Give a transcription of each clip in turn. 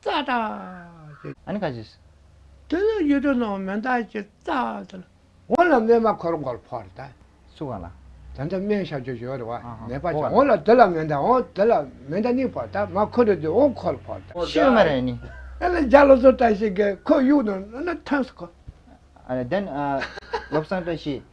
རྩྭ་དང། ཨ་ནི་ཁ་ཅིག། དེ་ལ་ཡུལ་དུ་སྣང་བ་མི་འདའ་ཞིང་རྩྭ་དང། འོ་ལ་སྨན་མ་འཁོར་མགོར་ཕོག་རེ་ད། སུ་གང་ལ། དེ་འདྲ་སྨན་བཞག་རྒྱུ་ཞོག་རེ་བ། ནད་པ་ཅིག་འོ་ལ་དེ་ལ་མི་འདའ་འོ་དེ་ལ་མི་འདའ་ནི་ཕོག་ད་མ་འཁོར་རེ་དུས་འོ་འཁོར་ཕོག་ད། ཤོད་མ་རེ་ནི། ཨ་ལ་འཇའ་ལོ་སོ་བཀྲ་ཤིས་ཀྱིས་ཁོ་གཡུག་ནོ་ཨ་ན་ཐོན་སོ་ཁོ། ཨ་ལ་དེ་ནི། བློ་བཟང་བཀྲ་ཤིས།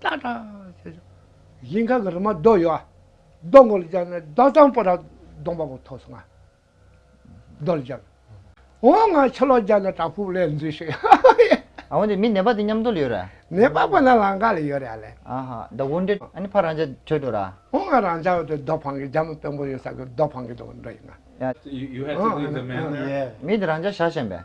ཏག་ཏག་བྱས་སོང། ཞིང་ཁ་གི་རི་མ་རྡོ་ཡོད་ཨ། རྡོ་མགོ་ལ་བཅག་ནས་རྡོ་གཙང་པོ་ར་སྡོང་པ་པོ་ཐོགས་སོང་ཨ། རྡོ་ལ་བཅག། འོ་ང་ཕྱི་ལོག་བརྒྱག་ནས་བྲག་ཕུག་ལས་འཛུལ་ཞིག་ཧཧ་ཧཧ། ཨ་འོན་ཏེ་མི་ནད་པ་དེ་མཉམ་འདུག་ལ་ཡོད་ར། ནད་པ་པོ་ན་ལང་ཀ་ལ་ཡོད་ར་ལེ། ཨ་ཧ། ད་དགོང་འདྲེ་ཨ་ནི་ཕ་རང་ཅག་བྲོས་འགྲོ་ར། འོ་ང་རང་ཅག་འོད་དེ་རྡོ་འཕང་གི་རྒྱ་མི་དཔོན་པོ་ཡོད་ས་གི་རྡོ་འཕང་གི་འགྲོ་ཡིན་ན། ཡ། མི་དེ་རང་ཅག་ཞག་ཞན་པས།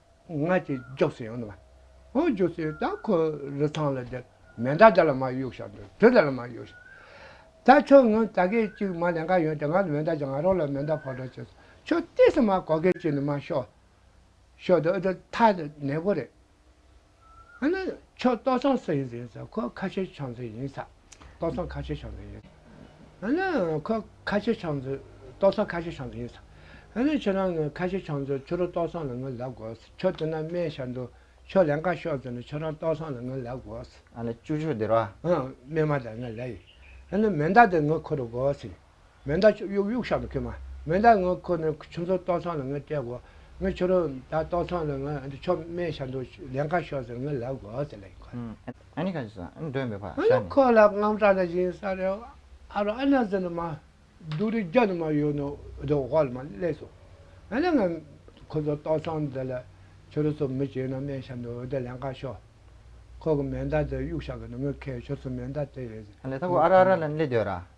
ང་ཅི་རྒྱོབ་སྲིད་ཨང། ཨོ་རྒྱོབ་སྲིད་ད་ཁོ་རི་ཐང་ལ་འདིར་མེ་མདའ་དེ་ལ་མ་གཡུག་ཤག་འདིར་དེ་དེ་ལ་མ་གཡུག་ཤག། ད་ཁྱོད་ངོ་ད་གས་ཅིག་མ་ལན་ཁ་ཡོང་དེ་ང་ལ་མེ་མདའ་ཅིག་ང་རང་ལ་མེ་མདའ་ཕོག་འདྲ་བྱས་སོང་ཁྱོད་ལྟས་སོང་མ་གོ་གས་ཅིག་ནི་མ་ཤོག། ཤོག་འདི་འདི་ཐ་ནས་པོ་རེད། ཨ་ནི་ཁྱོད་ཏོག་ཚང་སུ་ཡིན་ཟེར་ཟ་ཁོ་ཁ་ཆེ་ཆང་རྩེད་ཡིན་ཟ་ཏོག་ཚང་ཁ་ཆེ་ཆང་རྩེད་ཡིན་ཟ་ཨ་ནི་ཁོ་ཁ་ཆེ་ཆང་རྩེད་ཏོག་ཚང་ཁ་ཆེ་ཆང་རྩེད་ཡིན་ཟ་ཨ་ནི་ཁྱོད་རང་ངས་ཁ་ཆེ་ཆང་རྩེད་ཁྱོད་རང་ཏོག་ཚང་ལ་ངས་ལབ་དགོས་ཁྱོད་དེ་ན་སྨད་ཤར་འདུག་ཁྱོད་ལན་ཁ་ཤོར་ཟེར་ན་ཁྱོད་རང་ཏོག་ཚང་ལ་ངས་ལབ་དགོས། ཨ་ནི་ཅུ་ཁྱོད་བདེ་ར། ཨ་སྨད་མ་དང་ངས་ལབ་ཡིན་ཨ་ནི་མེ་མདའ་དེ་ངས་ཁོ་རུ་དགོས་ཡིན། མེ་མདའ་གཡུག་གཡུག་གཡུག་ཤག་ཏུ་ཁེལ། མེ་མདའ་ངའི་ཁུར་ནས་ཁྱོད་ཚོའི་ལྟོག་ཚང་ལ་ངས་སྤྲད་དགོས། ངའི་ཁྱོད་རང་ད་ལྟོག་ཚང་ལ་ངས་འདི་ཆོ་མེད་ཤར་འདུག་ལན་ཁ་ཤོར་ཟེར་ངས་ལབ་དགོས་ཟེར་ལན་ཁོ་ལ། ཨ་ནི་ཁ་ཅིག་ཟ་འདོད་མེད་པར་ཤར་ནས། ཁོ་ལ་རྔམ་སྟབས་ལ་བྱིན་ས་རེད། ཨ་རོ་ཨ་ན་ཟེར་ནས་མ་སྡུག་རི་རྒྱ་ནས་མ་གཡུག་ནས་འདི་འོག་ལ་མ་སླེབས་སོང། ཨ་ན་ངས་ཁོ་ཚོའི་ལྟོག་ཚང་འདི་ལ་ཁྱོད་རང་ཚོ་མི་བྱེད་ན་སྨན་ཤར་འདུག་འདི་ལན་ཁ་ཤོར། ཁོ་གི་མེ་མདའ་དེ་གཡུག་ཤག་གི་ནང་ངས་ཁེལ་ཁྱོད་ཚོའི་མེ་མདའ་དེ། ཨ་ལས་ཐ་གུ་ཨ་ར་ཨ་ར་ལན་སླེབས་འདོད་ར།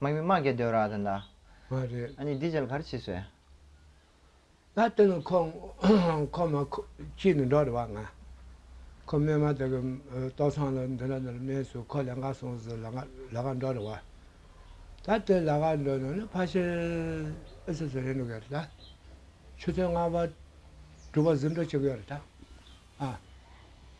དམག་མི་དམག་རྒྱལ་སྡོད་ར་དེ་འདྲ། མ་རེད། ཨ་ནི་འདི་ཅལ་ག་རེ་བྱེད་སོས། ད་དེ་ནི་ཁོ་ཁོ་མ་ཁོ་ཅི་ནི་འགྲོ་རེ་བ་ང། ཁོ་སྨན་མ་དེ་གི་ཏོག་ཚང་ལ་འདི་འདྲ་འདི་འདྲ་སྨན་སོས་ཁོ་ལས་འགའ་སོང་ཟིག་ལ་ལ་ག་འགྲོ་རེ་བ། ད་དེ་ལ་ག་འགྲོ་ནི་ནི་ཕ་ཤེལ་ཨི་སི་སི་རེད་འགྲོ་གི་རེད་ད། ཆུ་ཚོད་ལྔ་བ་དྲུག་བ་ཟིག་འགྲོ་ཆོག་གི་རེད་ད། ཨ།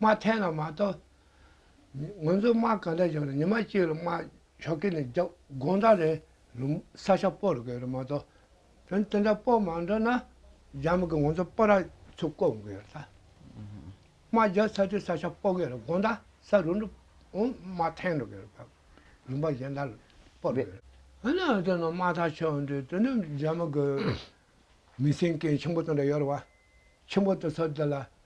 དམག་འཐེན་ལ་མ་གཏོགས། ང་ཚོའི་དམག་ག་འདྲ་བཞག་ནས་ཉི་མ་གཅིག་ལ་དམག་ཞོག་སྐེ་ནས་རྒྱབ་དགོང་དག་རེ་རུ་ས་ཆ་སྤོ་རུ་དགོས་རེད་མ་གཏོགས། དོན་དེ་འདྲ་སྤོ་མ་འགྲོ་ན། རྒྱ་མི་གིས་ང་ཚོ་སྤོ་ར་ཚུར་བསྐོར་དགོས་རེད་ད། དམག་རྒྱག་ཚར་དུས་ས་ཆ་སྤོ་དགོས་རེད་དགོང་དག་ས་རུ་འགྲོ་འོང་དམག་འཐེན་འགྲོ་དགོས་རེད་ད། རིམ་པ་གཞན་དག་ལ་སྤོ་དགོས་རེད། ཨ་ནི་ཨ་ཙི་ནང་དམག་ཐག་ཆོད་འོང་དུས་དེ་ནི་རྒྱ་མི་གི་མི་སེམས་སྐྱེ་ཆེན་པོ་དེ་འདྲ་ཡོད་རེད་བ། ཆེན་པོ་དེ་ཚོ་དེ་ལ།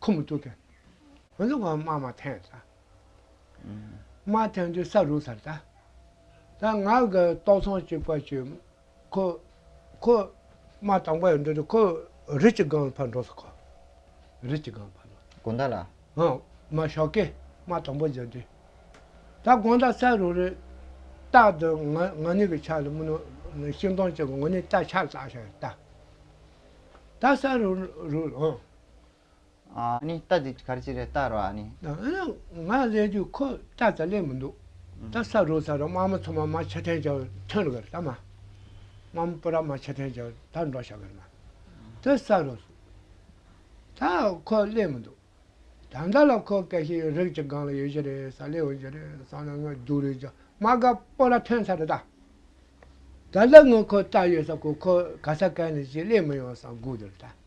ཁུ་མི་ཐུག་གི། ཧོན་ལུག་གང་དམར་མ་འཐེན་ད། དམར་འཐེན་དུས་ས་རུག་ཚར་ད། ད་ང་གི་ཏོག་ཚང་གཅིག་པ་ཞིག་ཁོ། ཁོ། དམར་དང་པོ་ཡོད་འདོད་དུ་ཁོ། རི་གཅིག་སྒང་ལ་ཕར་འགྲོ་ས་ཁོ། རི་གཅིག་སྒང་ཕར་འགྲོ། དགོན་བདག་ལ། ཧོན། མ་ཞོག་གི། དམར་དང་པོ་འཇགས་དུས། ད་དགོན་བདག་ས་རུག་རི། སྟག་དུ་ང་ང་ནི་གི་ཆགས་ལ་མི་ནུ། ཤིང་སྡོང་གཅིག་གི་ངོ་ནི་སྟག་ཆགས་ལ་ས་ཞག་ད། ད་ས་རུག་རུག་ཧོན། ནི་རྟ་འདི་གར་ཅི་རེད་རྟ་རོ་ཨ་ནི། ང་ལ་ལས་རྒྱུ་ཁོ་རྟ་ད་ལས་མི་འདུག་རྟ་ས་རོ་ས་རོ་དམག་མི་ཚོ་མ་མ་ཆ་ཐན་ཅའོ་ཐོན་གི་རྟ་མ། དམག་མི་པོ་ར་མ་ཆ་ཐན་ཅའོ་ད་འགྲོ་ཤག་གི་མ། རྟ་ས་རོ་ད་ཁོ་ལས་མི་འདུག་ད་མདའ་ལ་ཁོ་སྐད་ཤི་རིག་ཅི་གང་ལ་ཡོད་ཅི་རེད་ས་ལས་འོན་ཅི་རེད་ས་ན་ང་རྒྱུག་རེད་ཅག་མ་ག་པོ་ར་ཐོན་ས་རེད་ད། ད་ལ་ངོ་ཁོ་རྟ་ཡོད་ས་ཁོ་ཁོ་ག་ས་ག་ནས་ཅི་ལས་མི་ཡོང་ས་འགུག་དེ་རེད་ད།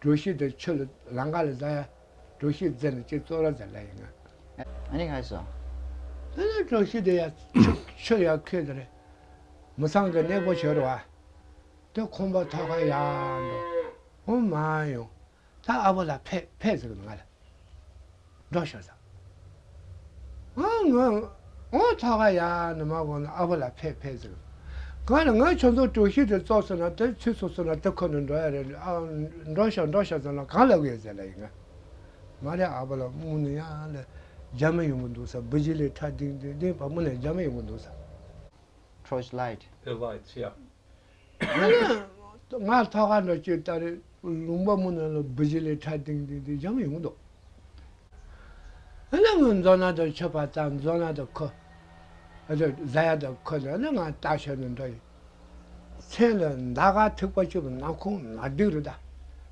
གྲུ་བཞི་དེར་ཆུ་ལ་ལང་ཀ་ལ་བཟའ། གྲུ་བཞི་རྫི་ལ་གཅིག་བཙོ་ར་བཟའ་ལ་ཡིན། ཨ་ནི་ཧའི་སོ། དེ་ལ་གྲུ་བཞི་དེ་ཡང་ཆུ་ཡང་ཁུད་དེར། མི་ཚང་གི་གནས་པོ་བྱོལ་བ། དེ་ཁོང་པ་ཐོག་ཁ་ཡག་འགྲོ། འོ་མ་ཡང། ད་ཨ་བོ་ལ་ཕེ་ཕེ་ཟེར་གི་ང་ལ། སྒྲོག་ཤོག་དང། ངའོ་ཐ་ག་ཡ་ནི་མ་གོ་ན་ཨ་བུ་ལ་ཕེད་ཕེད་ཟེར། གང་ལ་ངའི་ཆོས་ཚོགས་དྲུག་ཤིག་དེ་ཙོག་སོང་ན་དེ་ཚུད་སོང་སོང་ན་དེ་ཁོ་ནས་འགྲོ་ཡ་རེད་ཨ་སྒྲོག་ཤོག་སྒྲོག་ཤོག་ཟེར་ན་གང་ལ་བས་ཟེར་ལ་ཡི་ང། མ་རེད་ཨ་བུ་ལ་དམུ་ནི་ཡ་ལ་རྒྱ་མི་ཡོང་གི་འདུག་ས་བུ་ཇི་ལི་ཁྲ་ལྡིང་ལྡིང་ལྡིང་བ་དམུ་ནས་རྒྱ་མི་ཡོང་གི་འདུག་ས། Torchlight། Headlights ཡ། ང་ནི་ང་ཐ་ག་འདྲ་ཁྱོད་ལྟ་རེ་ལུང་པ་མོ་རྣམས་ལ་བུ་བཞི་ལས་ཁྲ་ཏིང་ཏིང་དེ་སྦྱང་ཡོང་དོགས་ཨ་ན་ངའི་མཛོ་ན་དང་ཆོས་པ་ད་མཛོ་ན་དང་ཁོ་ཨ་ད་བཟའ་ཡ་དང་ཁོ་ད་ནི་ང་ལྟ་ཞོར་ནས་འདྲ་ཡིན་མཚན་ལ་མདའ་ག་ཐིག་པ་ཆུ་བོ་ནག་ཁུང་ནག་སྡིག་རུ་དར་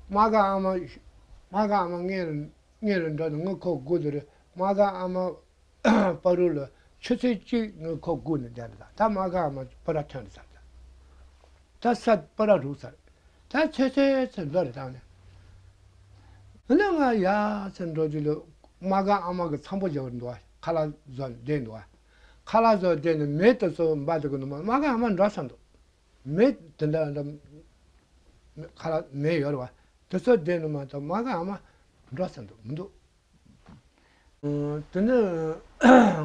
མ་ག་ཨ་མ་ཨ་མ་ངའི་རུ་ངའི་རུ་འདྲ་ནི་ངའི་ཁོག་དགུ་དུ་རུ་མ་ག་ཨ་མ། པར་རུ་ལ་ཆུ་ཚོད་གཅིག་ནུས་ཁོག་སྒུག་ནས་བསྡད་པ་དང་ད་མ་ག་མ་པོ་ར་ཐོན་ཚར་དང་ད་ས་པོ་ར་རུག་ཚར་ད་ཚོད་ཚོད་ཚོད་འགྲོ་རེ་བཏང་ནས་འོ་ན་ང་ཡ་ཚོད་འགྲོ་རྒྱུ་ལོ་མ་ག་ཨ་མ་གི་ཚང་པོ་བཞག་འདུག་ཨ་ཁ་ལ་ཟོ་བསྡད་འདུག་ཨ་ཁ་ལ་ཟོ་བསྡད་ནས་མེ་དེ་ཚོ་འབའ་དེ་གི་ནུ་མ་མ་ག་ཨ་མ་འགྲོ་ཚར་འདུག་མེ་དེ་འདྲ་འདྲ་ཁ་ལ་མེ་ཡོད་རེད་བ་དེ་ཚོ་བསྡད་ནུ་མ་ད་མ་ག་ཨ་མ་འགྲོ་ཚར་འདུག་མི་འདུག། དེ་ནས་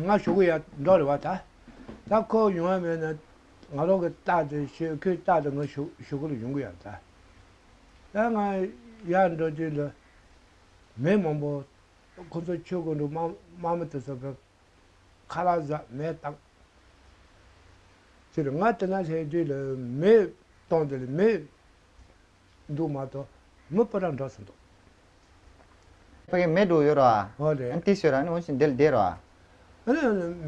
ང་ཞོགས་གི་ཡར་འབྲོག་རེད་བ་ད། ད་ཁོ་ཡོང་ཡ་མེད་ན། ང་རོག་གི་རྟགས་དེ་ཞེས་ཁོའི་རྟགས་དེ་ང་ཞོགས་གི་ལ་ཡོང་གི་ཡ་ད། ད་ང་ཡར་འབྲོག་དུས་འདི། མི་མང་པོ། ཁོ་ཚོ་ཆོས་སྒོ་འགྲོ་དམའ་མོ་དེ་ཚོ་གི། ཁ་ལག་ཟ་མས་བཏང། ཕྱིར་ང་དེ་ན་སླེབས་དུས་ལ་མི་སྟོང་དེ་ལ་མི། འདུག་མ་གཏོགས་མི་སྤོ་ར་འདྲ་ཟིན་འདུག། ཕ་གི་མེ་དྲུག་ཡོད་རོ། ཨོ་རེད། ཨན་ཏི་ཤོད་ར་ནི་ཝོན་ཤིན་དེ་ལ་བསྡད་རོ།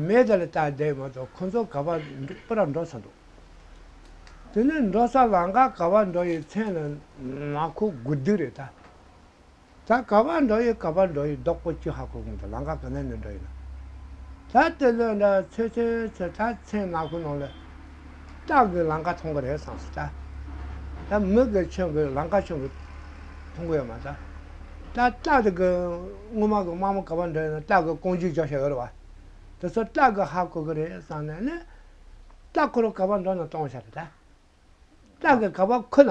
མེ་དེ་ལ་བལྟ་བསྡད་མ་གཏོགས་ཁོ་ཚོ་ག་པར་སྤོ་ར་འགྲོ་ས་འདུག། དེ་ནས་འགྲོ་ས་ལང་ཀ་ག་པར་འགྲོ་ཡི་མཚན་ལ་ནག་ཁུག་དགུ་བསྡུས་རེད་ད། ད་ག་པར་འགྲོ་ཡི་ག་པར་འགྲོ་ཡི་རྡོག་པོ་ཆུ་ཧ་གོ་གིན་འདུག་ལང་ཀ་ག་ནས་ནས་འགྲོ་ཡི་ན། ད་དེ་ལོས་འདྲ་ཚོད་ཚོད་ཚོད་ད་མཚན་ནག་པོའི་ནང་ལ་སྐྲག་གིས་ལང་ཀ་མཐོང་གི་རེད་བསམ་སྲིད་ད། ད་མི་གིས་ཆོས་གིས་ལང་ཀ་ཆོས་གིས་མཐོང་གི་ཡོད་མ་ད། ད་སྐྲག་གིས་དངུལ་མ་གིས་དམག་མོ་ག་པར་འགྲོ་ཡི་ན་སྐྲག་གིས་རྐང་རྗེས་འཇོག་བྱ་ཡོད་རེད་བ། དེ་ཚོ་སྐྲག་གིས་ཧ་གོ་གི་རེད་བསམ་ནས་ནས། སྐྲག་ཁོ་རང་ག་པར་འགྲོ་ན་གཏོང་བྱ་རེད་ད། སྐྲག་གིས་ག་པར་ཁུ་ན་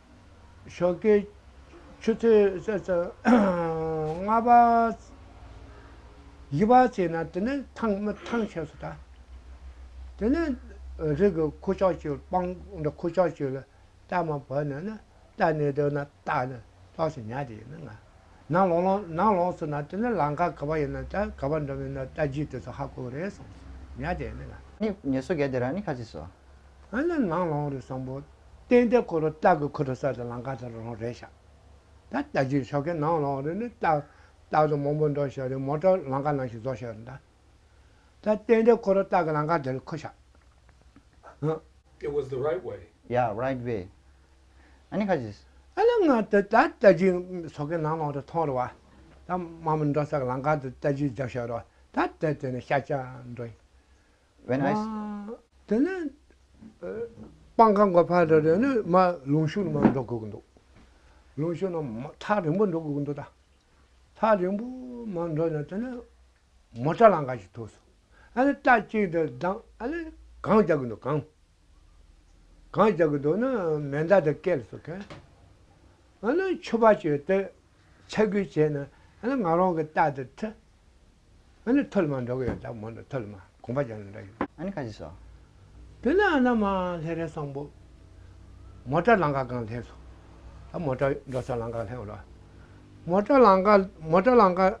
ཞོགས་ཀྱི་ཆུ་ཚོད་ལྔ་པ། བཞི་པ་བྱས་ན་དེ་ནི་ཐང་མི་ཐང་བྱས་སུ་བལྟ། དེ་ནི་རིགས་ཀྱི་ཁུ་བྱོག་ཆུ་སྤང་འདི་ཁུ་བྱོག་ཆུ་ལ་གཏད་མ་བོས་ན་ནི་གཏད་ནས་སྡོད་ན་རྟ་ནི་ལོགས་སུ་ཉལ་དེ་ཡིན་ན་ང། ནང་ལོགས་ལོགས་ནང་ལོགས་སུ་ན་དེ་ནི་ལང་ཀ་ག་བ་ཡིན་ན་དེ་ག་བ་འགྲོ་མིན་ན་རྟ་རྒྱུད་དེ་ཚོ་ཧ་གོ་རེད་སོང་ཉལ་དེ་ཡིན་ན་ང། ནི་ངལ་གསོ་གལ་དེ་རང་ནི་ཁ་ཚིག་སོ། ཨ་ནི་ནང་ལོགས་རེད་སོང་བོ། རྟེན་དེ་འཁོར་ལོ་སྟག་གི་ཁུ་ཁྲོ་སར་དུ་ལང་ཀ་དང་རོང་རས་བཞག། ད་ལྟ་རྗེས་ཆོ་གའི་ནང་ལོགས་རེ་ནི་སྟག། སྟག་དང་མོ་འབུར་འདོགས་བཞག་རི་མོ་བཀྲ་ལང་ཀ་ནང་བཞིན་རྫོགས་བཞག་རེ་གདའ། ད་རྟེན་དེ་འཁོར་ལོ་སྟག་གི་ལང་ཀ་དེར་འཁོད་བཞག། It was the right way. Yeah, right way. Ani khasis. ཨ་ལ་ང་ད་ལྟ་རྗེས་ཆོ་གའི་ནང་ལོགས་རེ་མཐོང་རེ་བ། ད་མ་མོ་འདོགས་སར་ལང་ཀ་དེར་ལྟ་རྗེས་རྒྱག་བཞག་རེ་བ། ད་ལྟ་དེ་ནི་ཤ་ཆ་འགྲོ་ཡིན། When I ཨ། དེ་ནས། སྤང་ཁང་གི་ཕར་དེར་ནི་མ་ལུང་ཤུར་མར་འགྲོ་དགོས་ཀྱི་འདུག། ལུང་ཤུར་ནི་མ་ཐག་རིང་པོ་འགྲོ་དགོས་ཀྱི་འདུག་ད། ཐག་རིང་པོ་མར་འགྲོ་ནས་དེ་ནས། མོ་ཏྲ་ལང་ཀ་ཞིག་ཐོགས་སོང། ཨ་ནི་རྟ་གཅིག་དེ་བདམས་ཨ་ནི་གངས་རྒྱག་གི་འདུག་གངས། གང་བྱ་གི་འདུག་ན་མེ་མདའ་དེ་སྐེ་ལ་བཙུགས་ཁན། ཨ་ལོས་མཆོད་པ་བྱོས་ཏེ་ཆ་རྒྱུས་བྱས་ན་ཨ་ལས་ང་རང་གི་རྟ་དེ་འཐུ། ཨ་ལས་ཐུ་ལ་མ་འགྲོ་གི་ཡོད་ད་མོ་འདི་ཐུ་ལ་མ་གོང་པ་ཅན་ལ་འདྲ་ཡོད། ཨ་ནི་ཁ་ཅིག་སོ། དེ་ནས་ཨ་ན་མ་ལྷས་རས་སངས་པོ། མོ་ཏྲ་ལང་ཀ་གང་ལྷས་སོ། ད་མོ་ཏྲ་འགྲོ་ས་ལང་ཀ་ལྷས་འོ་ལོ། མོ་ཏྲ་ལང་ཀ་མོ་ཏྲ་ལང་ཀ།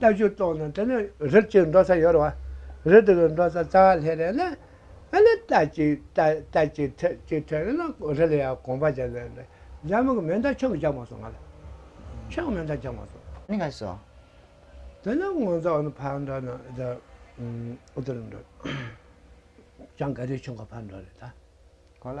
ལྟ་ཞིབ་ཏོག་ནང་དེ་ནི་རི་གཅིག་འགྲོ་ས་ཡོད་རེད་བ། རི་དེ་གི་འགྲོ་ས་རྩ་བ་ལྷས་རེད་ན། ཨ་ལེ་རྟ་གཅིག་རྟ་གཅིག་ཐེ་གཅིག་ཐེ་རེད་ན་རི་ལ་ཡང་གོམ་པ་འཇག་ལེ་རེད། འཇག་མི་གི་མེ་མདའ་ཆུང་གི་འཇག་མ་སོང་ང་ལ། ཆུང་མེ་མདའ་འཇག་མ་སོང། ནི་ག་སོང། དེ་ནི་ངོ་མཚར་བ་ནི་ཕར་འགྲོ་ན་དེ་འདིར་འགྲོ། ཅང་ག་རེ་ཆུང་ག་ཕར་འགྲོ་རེད་ད། གོ་ལ།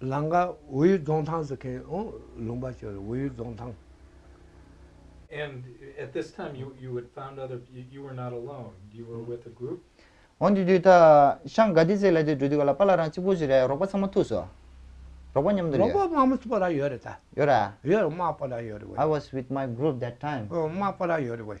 ལང་ཀ་ཝུའུ་རྫོང་ཐང་སི་ཁེན་ཨོང་ལུང་པ་ཆུ་ཝུའུ་རྫོང་ཐང། འོན་ཏེ་དུས་ད་ཤང་ག་དི་ཟེ་ལ་དེ་འགྲོ་དུས་ག་ལ་པ་ལ་རང་གཅིག་པུ་ཟེ་རེད་རོགས་པ་ཚང་མ་ཐུག་སོ། རོགས་པ་མཉམ་དུ་རེད། རོགས་པ་དམག་མི་པོ་ར་ཡོད་རེད་ད། ཡོད་ར། ཡོད་རེད་དམག་པོ་ར་ཡོད་རེད་ཝེ། I was with my group that time། དམག་པོ་ར་ཡོད་རེད་ཝེ།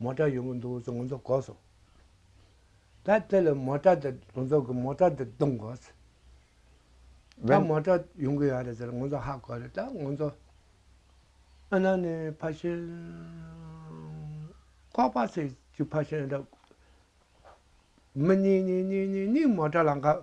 མོ་ཏྲ་ཡོང་གི་འདུག་ཟེར་ང་ཚོ་གོ་སོང། ད་དེ་ལ་མོ་ཏྲ་དེ་ང་ཚོ་གི་མོ་ཏྲ་དེ་བརྡུང་དགོས། ད་མོ་ཏྲ་ཡོང་གི་ཡོད་རེད་ཟེར་ང་ཚོ་ཧ་གོ་རེད་ད་ང་ཚོ་ཨ་ན་ནས་ཕ་ཤན་ཁོག་པ་ཚེ་གཅིག་ཕ་ཤན་འདྲ། མི་གཉིས་གཉིས་གཉིས་གཉིས་གཉིས་མོ་ཏྲ་ལ་འགབ།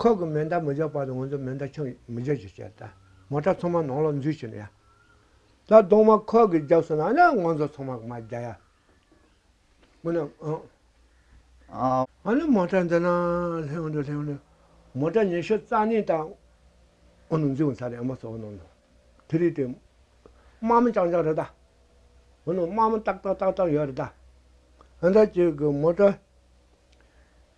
ཁོག་གི་མེ་མདའ་མི་འཇོག་པ་དང་ངོ་མཚོན་མེ་མདའ་ཆང་མི་འཇོག་ཅེས་བཤད། མོ་ཏྲ་ཚང་མ་ནང་ལོགས་འཛུལ་བྱས་ནས་ཡ། ད་གདོང་མ་ཁོག་གིས་རྒྱག་སོང་ན་ཡང་ང་ཚོ་ཚང་མ་མ་རྒྱག་ཡ། མོ་ནི་ཨང། ཨང། ཨང་ནི་མོ་ཏྲ་འདི་ན་སླེབས་འོང་དུ་སླེབས་འོང་དུ། མོ་ཏྲ་ཉི་ཤུ་རྩ་གཉིས་དང་འོང་དུ་འཛུལ་འོང་ཚར་རེད་ཨ་མ་གསོལ་བ་གནང་དུ། དེ་རིང་དེ། དམག་མི་རྐྱང་རྐྱང་རེད་ད། འོ་ན་དམག་མི་ཏག་ཏག་ཏག་ཏག་ཡོད་རེད་ད། ཨ་མདའ་ཅིག་གིས་མོ་ཏྲ།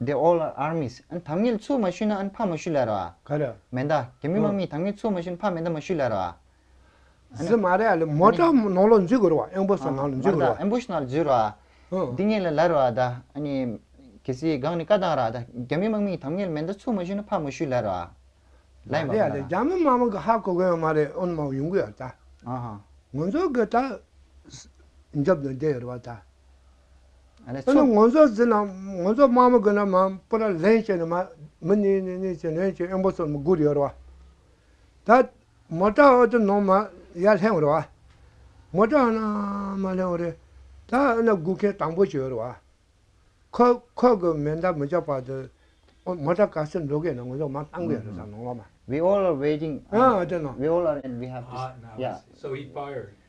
They all are armies ཨན་དྭངས་སྙིལ་ཆུ་མ་ཞུ་ན་ཨན་ཕ་མ་ཞུ་ལེ་རོ་ཨ། ག་རེ། མེ་མདའ་དེ་མི་མ་མི་དྭངས་སྙིལ་ཆུ་མ་ཞུ་ན་ཕ་མེ་མདའ་མ་ཞུ་ལེ་རོ་ཨ། ཟི་མ་རེ་ཨ་ལེ་མོ་ཏྲ་མོ་ནང་ལོག་འཛུལ་དགོས་རོ་ཨ་ཨན་བུ་སོ་ནང་ལོག་འཛུལ་དགོས་རོ་ཨ། ཨན་བུ་སོ་ནང་ལོག་འཛུལ་རོ་ཨ། འདི་ངེད་ལ་ལ་རོ་ཨ་ད་ཨན་གེ་སི་གང་ནི་ཀ་དང་ར་ཨ་ད་རྒྱ་མི་མ་མི་དྭངས་སྙིལ་མེ་མདའ་ཆུ་མ་ཞུ་ན་ཕ་མ་ཞུ་ལེ་རོ་ཨ། མ་རེ་ཨ་ལེ་རྒྱ་མི་མ་མི་གི་ཧ་གོ་གོ་ཡང་མ་རེ་ཨོན་མ་ཡུང་གུ་ཡང་ད། ཨ་ཧ། ངོ་མཚོ་གི་ད། འཇབ་ནི་འདེ་ཡོ་རོ་ཨ་ད། ནི་ངོ་མཚར་ཟིན་ན་ངོ་མཚར་སྨྲ་མི་དགོས་ན་མ་པུ་ར་ལན་ཅན་ནི་མ་མི་ནི་ནི་ནི་ཅན་ལན་ཅན་ཨེན་པོ་སོར་མོ་དགུར་ཡོད་ར་བ། ད་མོ་ཏྲ་ཨོ་ཏི་ནོ་མ་ཡ་ལྷན་འོ་ར་བ། མོ་ཏྲ་ཨོ་ན་མ་ལྷན་འོ་རེ། ད་ཨོ་ན་དགུ་ཁན་དང་པོ་ཅི་ཡོད་ར་བ། ཁོ་ཁོ་གི་མེ་མདའ་མི་བཅག་པ་དུ་ཨོ་མོ་ཏྲ་ག་སེར་འགྲོ་གན་ན་ངོ་མཚར་མ་གཏང་གི་ཡོད་ར་བཟང་ནོང་ར་མ། We all are waiting and we all are and we have to yeah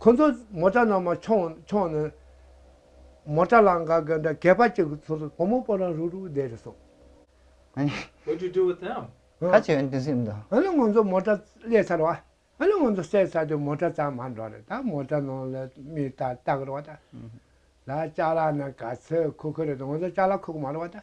ཁོ་ཚོ་མོ་ཏྲ་ནང་མ་མཆོང་མཆོང་ནས། མོ་ཏྲ་ལང་ག་གི་འདྲ་གད་པ་གཅིག་གི་ཚུལ་དུ་བུ་མོ་སྤོ་རང་རུག་རུག་བསྡད་རེ་སོང། ཁ་ཅིག་ང་ཚོ་མོ་ཏྲ་བསླས་ཚར་བ། ང་ཚོ་བསད་ཚར་དུས་མོ་ཏྲ་ཙམ་མ་འགྲོ་རེད་ད་མོ་ཏྲ་ནང་ལ་མི་ལྟ་ལྟ་གི་རོགས་ད། ལ་ལྕགས་ལ་ནི་ག་ཚོད་ཁུག་གི་རེད་ང་ཚོ་ལྕགས་ལ་ཁུག་མ་རོགས་ད།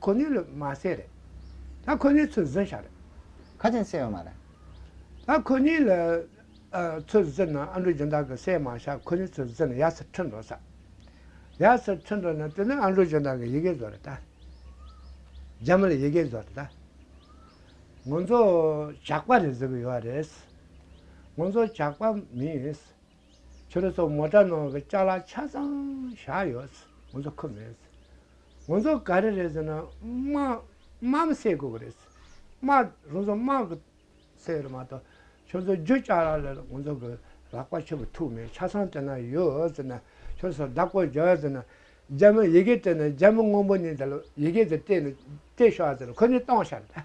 ཁོ་ནི་ལུས་མ་བསྲེགས་རེད། ད་ཁོ་ནི་ཚུར་བཟི་ཤག་རེད། ཁ་ཆེམས་བསྲེགས་ཡོད་མ་རེད། ད་ཁོ་ནི་ལ་ཚུར་བཟི་ན་ཨ་འབྲུག་སྦྱིན་བདག་གི་སྲས་མ་ཤག་ཁོ་ནི་ཚུར་བཟི་ན་ཡར་སར་ཁྲིད་འགྲོ་ས་ཡར་སར་ཁྲིད་འགྲོ་ན་དེ་ནི་ཨ་འབྲུག་སྦྱིན་བདག་གི་ཡི་གེ་བཟོ་རེད་ད། རྒྱ་མི་ལ་ཡི་གེ་བཟོ་རེད་ད། ངོ་ཚོ་ཇག་པ་རེད་བཟོ་གི་ཡོད་རེད། ངོ་ཚོ་ཇག་པ་མིན། ཁྱོད་རང་ཚོ་མོ་དགྲ་ནང་གི་ལྕགས་ལ་ཆ་ཚང་བཞག་ཡོད། ང་ཚོ་ཁུ་མེད། ང་ཚོ་ག་རེ་རེད་ཟེར་ན་དམག་མི་སེལ་དགོས་ཀྱི་རེད། དམག་རང་ཚོ་དམག་གི་སེལ་བ་མ་གཏོགས་ཁྱོད་ཚོ་རྒྱུ་ལྕགས་ལ་ལ་ང་ཚོ་གི་ལག་པ་ཆུ་བུར་ཐུག་མེད་ཆ་ཚང་དེ་ན་ཡོད་ཟེར་ན་ཁྱོད་ཚོ་བདག་པོ་རྒྱག་ཟེར་ན་རྒྱ་མི་ཡི་གེ་སྤྲད་ན་རྒྱ་མི་དངོས་པོ་ནས་དེ་ལ་ཡི་གེ་དེ་སྤྲད་ནས་སྤྲད་ཤོག་ཟེར་ན་ཁོ་ནས་གཏོང་ཤག་ད།